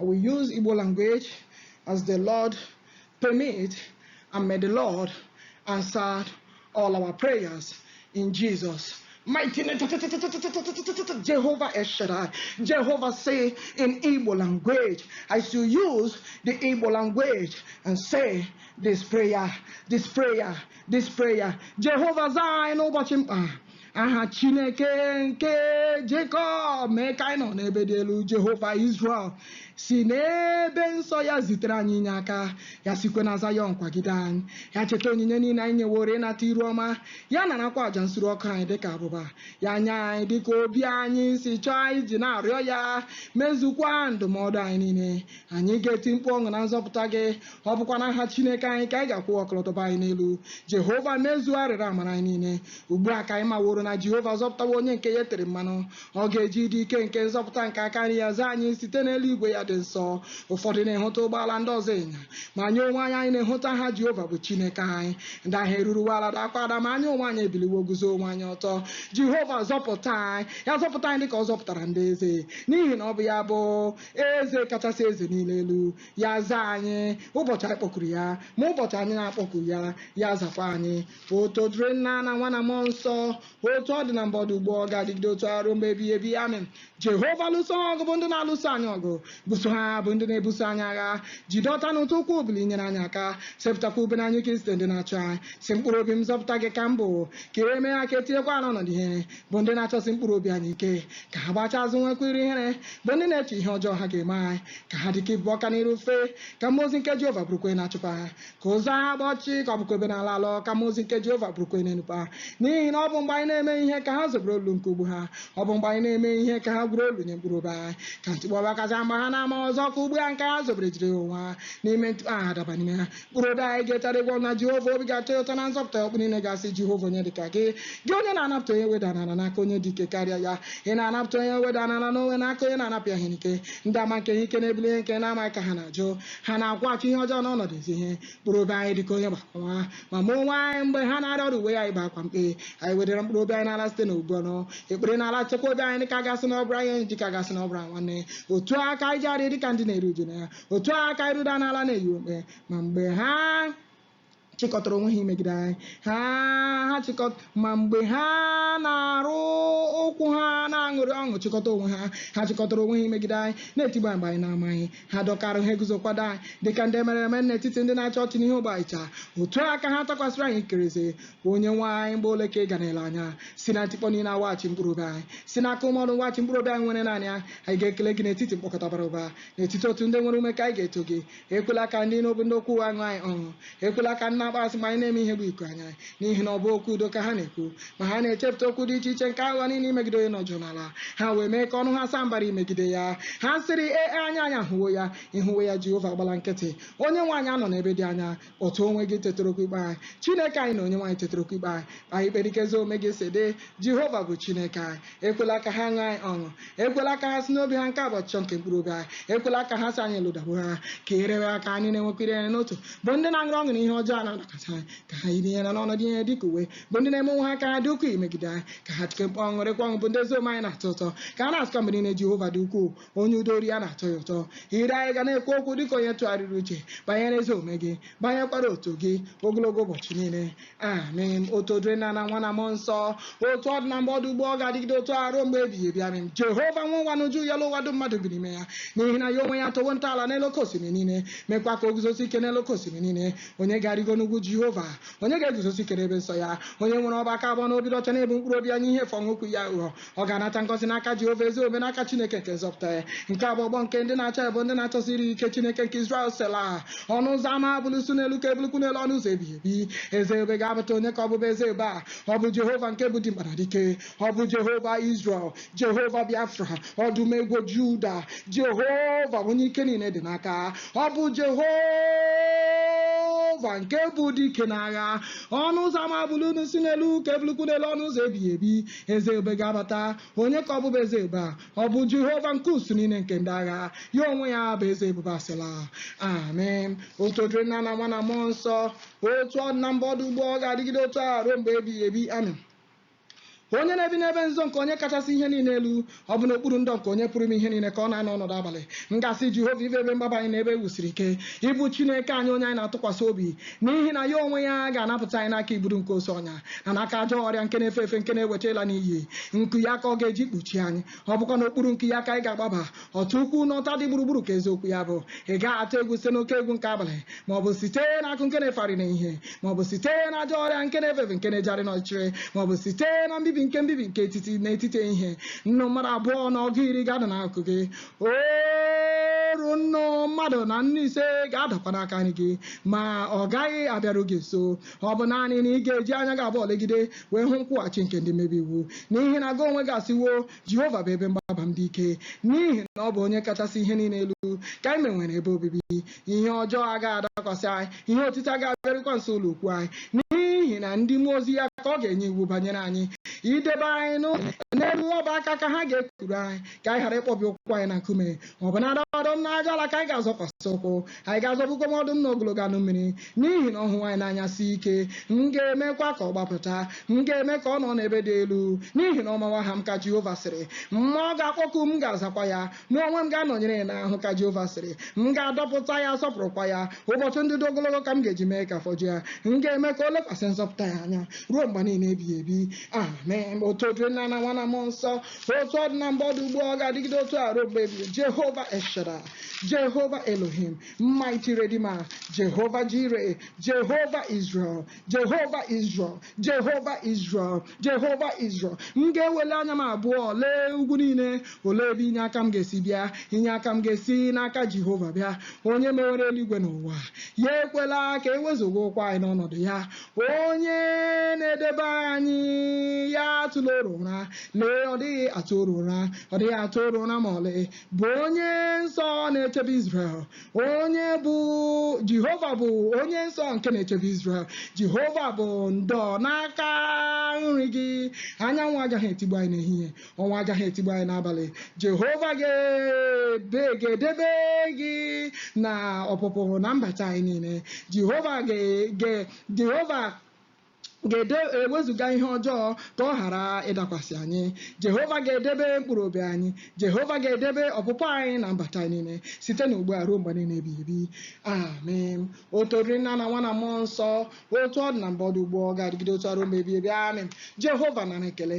I will use Igbo language as the Lord permit and may the Lord answer all our prayers in Jesus' mighty name. Jehovah Eshadai. Jehovah say in Igbo language, I shall use the Igbo language and say this prayer, this prayer, this prayer. Jehovah Zion, aha chineke nke jekọb mee ka anyị nọ n'ebe dị elu jehova israel si n'ebe nsọ ya zitere anyị inye aka ya sikwe na zayọn kwagide anyị ya cheta onyinye niile anyị nyeworo ịnata iru ọma ya narakwa aja nsure ọkụ anyị dịka abụba ya nye anyị dịka obi anyị si chọọ anyị ji na-arịọ ya mezukwa ndụmọdụ anyị niile anyị ga-eti mkpu ọṅụ na nzọpụta gị ọ bụkwa n'aha chineke anyị ka anyị ga-akwụ ọkọlọtọ anyị n'elu jehova mezuo arịrịọ amara anyị niile ugbu a ka anyị maworo na jehova azọpụtawo onye nke ya etere mmanụ ọ ga-eji ịdị ike nke nzọpụta nke aka nri ya zaa anyị site n'elu igwe ya dị nsọ ụfọdụ na-ehota ụgbọala ndị ọzọ ịnyịnya ma anyị onwe anyị anyị na-ehota aha jehova bụ chineke anyị ndị ahụ eruruwo ala dakwa ada ma anyị onwe anyị ebiliwo guzo onwe anyị ọtọ jehova zọpụta anyị ya zọpụta anyị dịka ọ zọpụtara ndị eze n'ihi na ọ bụ ya bụ Eze kachasị eze niile elu, ya zaa anyị ụbọchị anyị kpọkuru ya, ma ụbọchị anyị na-akpọku ya, ya azakwa anyị. Otuto dịrị Nna na Nwa na Mmụọ Nsọ, otu ọ dị na mbụ, ọ dị ugbu a, ọ ga-adịgide otu a ruo mgbe ebighị ebi. Amen. Jehova lụso ha ọgụ bụ ndị na-alụso anyị ọgụ, buso ha bụ ndị na-ebuso anyị agha. Jide ọta na ọta ukwu bilie nyere anyị aka, sepụtakwa ube na anyụ ike izute ndị na-achụ anyị. Sị mkpụrụ obi m nzọpụta gị ka m bụ, ka e mee ha ka e tinyekwa ha n'ọnọdụ ihere. bụ ndị na-achọsi mkpụrụ obi anyị ike ka ha gbaghachi azụ nwekwa iru ihere bụ ndị na-eche ihe ọjọọ ha ga-eme anyị ka ha dịka igbugbo ọka n'iru ifufe ka mmụọ ozi nke Jehova bụrụkwa onye na-achụpụ ha ka ụzọ ha gbaa ọchịchịrị ka ọ bụkwa ebe na-alọ alọ ka mmụọ ozi nke Jehova bụrụkwa onye na-enukwa ha n'ihi na ọ bụ mgbe anyị na-emeghị ihe ka ha zobere olulu nke ụgbụ ha ọ bụ mgbe anyị na-emeghị ihe ka ha gwuru olulu nye mkpụrụ obi anyị ka ntikpọ bịakwasị ha mgbe ha na-amaghị ọzọ ka ụgbụ ha nke ha zobere jide onwe ha n'ime ntikpọ ha daba n'ime ha Mkpụrụ obi anyị ga-etegharị egwu ọṅụ na Jehova obi ga-atọ ya ụtọ na nzọpụta ya ọkpụkpụ niile ga-asị Jehova onye dịka gị gị onye na-anapụta onye e wedara n'ala n'aka onye dị ike karịa ya ị na-anapụta onye e wedara n'ala na ogbenye n'aka onye na-anapụ ya ihe n'ike ndị ama nke ihe ike na-ebili ihe nke na-amaghị ka ha na-ajụ ha na-akwụghachi ihe ọjọọ n'ọnọdụ ezi ihe mkpụrụ obi anyị dịka onye gba aka nwa ma ma onwe anyị mgbe ha na-arịa ọrịa uwe anyị bụ akwa mkpe anyị wedara mkpụrụ obi anyị n'ala site n'ibu ọnụ ekpere na-alaghachikwa obi anyị dịka a ga-asị na ọ bụrụ enyi dịka a ga-asị na ọ bụrụ nwanne otu a ka anyị jegharịrị dịka ndị na-eru uju nne ya otu a ka anyị ruda n'ala na-eyi mkpe ma mgbe ha chịkọtara onwe ha imegide anyị ha ha chịkọt ma mgbe ha na-arụ ụkwụ ha na-aṅụrị ọṅụ chịkọta onwe ha ha chịkọtara onwe ha imegide anyị na-etigbu anyị mgbe anyị na-amaghị ha dọkara ha eguzo kwado anyị dịka ndị e merụrụ emerụ n'etiti ndị na-achị ọchị n'ihi ogbe achịcha otu a ka ha takwasịrị anyị ikiri eze onye nwe anyị mgbe ole ka ị ga na-ele anya si na ntikpọ niile ha weghachi mkpụrụ obi anyị si n'aka ụmụ ọdụm weghachi mkpụrụ obi anyị nwere naanị ya anyị ga-ekele gị n'etiti mkpọkọta bara ụba n'etiti otu ndị nwere ume ka anyị ga-eto gị ekwela ka ndị na-abụ ndị okwu ụgha ṅụrịa ọṅụ ekwela ka ndị na-akpọ asị mgbe anyị na-emeghị ihe gbuo iku anya n'ihi na ọ bụghị okwu udo ka ha na-ekwu ma ha na-echepụta okwu dị iche iche nke aghụghọ niile imegide onye nọ jụụ n'ala ha wee mee ka ọnụ ha saa mbara imegide ya ha sịrị ee anya anyị ahụwo ya ị hụwo ya jehova agbala nkịtị onye nwe anyị anọla n'ebe dị anya otu onwe gị tetara okwu ikpe anyị chineke anyị na onyenwe anyị tetara okwu ikpe anyị kpee anyị ikpe dịka ezi omume gị si dị jehova bụ chineke anyị ekwela ka ha ṅụrịa anyị ọṅụ ekwela ka ha si n'obi ha nke a bụ ọchịchọ nke mkpụrụ obi anyị ekwela ka ha si anyị elodawo ha ka ihere mee ha ka ha na-enwekwa ihere n'otu bụ ndị na-aṅụrị ọṅụ na ihe ọjọọ na-adakwasị anyị ka ha yiri ihere na ọnọdụ ihere dị ka uwe bụ ndị na-eme onwe ha ka ha dị ukwuu imegide anyị ka ha tie mkpu ọṅụ ṅụrịakwa ọṅụ bụ ndị ezi omume anyị na-atọ ụtọ ka ha na-asịkwa mgbe niile jehova dị ukwuu onye udo oru ya na-atọ ya ụtọ ire anyị ga na-ekwu okwu dịka onye tụgharịrị uche banyere ezi omume gị banyekwara otuto gị ogologo ụbọchị niile amen otuto dịrị nna na nwa na mmụọ nsọ otu ọ dị na mbụ ọ dị ugbu a ọ ga-adịgide otu a ruo mgbe ebighị ebi amen jehova nwe ụwa na uju ya elu ụwa dum mmadụ bi n'ime ya n'ihi na ya onwe ya atọwo ntọala n'elu oke osimiri niile mekwa ka o guzosie ike n'elu oke osimiri niile onye ga-arịgo n'ugwu jehova onye ga-eguzosi ike n'ebe nsọ ya onye nwere ọbụ aka abụọ na obi ọcha na-ebu mkpụrụ obi ya nye ihe efu ọ ṅụghịkwa iyi aghụghọ ọ ga-anata ngọzi n'aka Jehova ezi omume n'aka Chineke nke nzọpụta ya nke a bụ ọgbọ nke ndị na-achọ ya bụ ndị na-achọsi iru gị ike Chineke nke Izrel sela ọnụ ụzọ ama bulie isi unu elu ka ebuliekwa unu elu ọnụ ụzọ ebighị ebi eze ebube ga-abata onye ka ọ bụ bụ eze ebube a ọ bụ Jehova nke bụ dimkpa na dike ọ bụ Jehova Izrel Jehova Biafra ọdụm ebo Juda Jehova onye ike niile dị n'aka ọ bụ Jehova nke bụ dike n'agha ọnụ ụzọ ama bulienụ isi unu elu ka ebuliekwa unu elu ọnụ ụzọ ebighị ebi Eze ebube ga-abata. Onye ka ọ bụ bụ eze ebube a? Ọ bụ Jehova nke usuu niile nke ndị agha. Ya onwe ya bụ eze ebube a. Sela. Amen. Otuto dịrị nna na nwa na mmụọ nsọ, otu ọ dị na mbụ, ọ dị ugbu a, ọ ga-adịgide otu a ruo mgbe ebighị ebi. Amen. Onye na-ebi n'ebe nzuzo nke Onye kachasị ihe niile elu, Ọ bụ n'okpuru ndo nke Onye Pụrụ Ime Ihe Niile ka ọ na-anọ ọnọdụ abalị. M ga-asị Jehova ị bụ ebe mgbaba anyị na ebe e wusiri ike, ị bụ Chineke anyị onye anyị na-atụkwasị obi, n'ihi na ya onwe ya ga-anapụta anyị n'aka igbudu nke osi ọnya na n'aka ajọ ọrịa nke na-efe efe nke na-eweta ịla n'iyi. Nku ya ka ọ ga-eji kpuchie anyị, ọ bụkwa n'okpuru nku ya ka anyị ga-agbaba. Ọta ukwu na ọta dị gburugburu ka eziokwu ya bụ. Ị gaghị atụ egwu site n'oke egwu nke abalị, ma ọ bụ site na akụ nke na-efegharị n'ehihie ma ọ bụ site na ajọ ọrịa nke na-efe efe nke na-ejegharị n'ọchịchịrị ma ọ bụ site na mbibi nke na-ebibi nke etiti n'etiti ehihie nnu mmadụ abụọ na ọgụ iri ga-ada n'akụkụ gị oru nnu mmadụ na nnu ise ga-adakwa n'aka nri gị ma ọ gaghị abịaru gị nso ọ bụ naanị na ị ga-eji anya gị abụọ legide wee hụ nkwụghachi nke ndị mmebi iwu n'ihi na gị onwe gị asịwo Jehova bụ ebe mgbaba m dị ike, n'ihi na ọ bụ onye kachasị ihe niile elu ka anyị meworo ebe obibi. Ihe ọjọọ agaghị adakwasị anyị, ihe otiti agaghị abịarukwa nso ụlọ ikwuu anyị, n'ihi na ndị mmụọ ozi ya ka ọ ga-enye iwu banyere anyị, idebe anyị n'ụlọ ya, n'elu ọbụ aka ka ha ga-ekuru anyị, ka anyị ghara ịkpọbi ụkwụ anyị na nkume. ọ bụ na ọdụm na ajụala ka anyị ga-azọkwasị ụkwụ anyị ga-azọgbukwa nwa ọdụm na ogologo anụ mmiri n'ihi na ọ hụwo anyị n'anya si ike m ga-emekwa ka ọ gbapụta m ga-eme ka ọ nọ n'ebe dị elu n'ihi na ọ mawo aha m ka jehova sịrị ma ọ ga-akpọku m ga-azakwa ya mụ onwe m ga-anọnyere ya n'ahụhụ ka jehova sịrị m ga-adọpụta ya sọpụrụkwa ya ụbọchị ndụ dị ogologo ka m ga-eji mee ka afọ ju ya m ga-eme ka o lekwasị nzọpụta ya anya ruo mgbe niile ebighị ebi amen otuto dịrị nna na nwa na mmụọ nsọ otu ọ dị na mbụ ọ dị ugbu a ọ ga-adịgide otu a ruo mgbe ebighị jehova el shaddai jehova elohim mighty redeemer jehova jireh jehova israel jehova israel jehova israel jehova israel m ga-ewele anya m abụọ lee ugwu niile olee ebe inye aka m ga-esi bịa inye aka m ga-esi n'aka jehova bịa onye mewere eluigwe na ụwa ya ekwela ka e wezuga ụkwụ anyị n'ọnọdụ ya Onye na-edebe anyị ya atụla oru ụra, lee ọ dịghị atụ oru ụra, ọ dịghị atụ oru ụra ma ọlị, bụ onye nsọ na-echebe Izrel. Onye bụ Jehova bụ onye nsọ nke na-echebe Izrel. Jehova bụ ndo n'aka nri gị, anyanwụ agaghị etigbu anyị n'ehihie. ọnwa agaghị etigbu anyị n'abalị jehova ga-edebe gị na ọpụpụ na mbata anyị niile jehova jehova ga-ewezuga ihe ọjọọ ka ọ ghara ịdakwasị anyị jehova ga-edebe mkpụrụ obi anyị jehova ga-edebe ọpụpụ anyị na mbata anyị niile site na ugbu a ruo mgbe niile ebighị ebi amen otuto dịrị nna na nwa na mmụọ nsọ otu ọ dị na mbụ ọ dị ugbu a ọ ga-adịgide otu a ruo mgbe ebighị ebi amen jehova nara ekele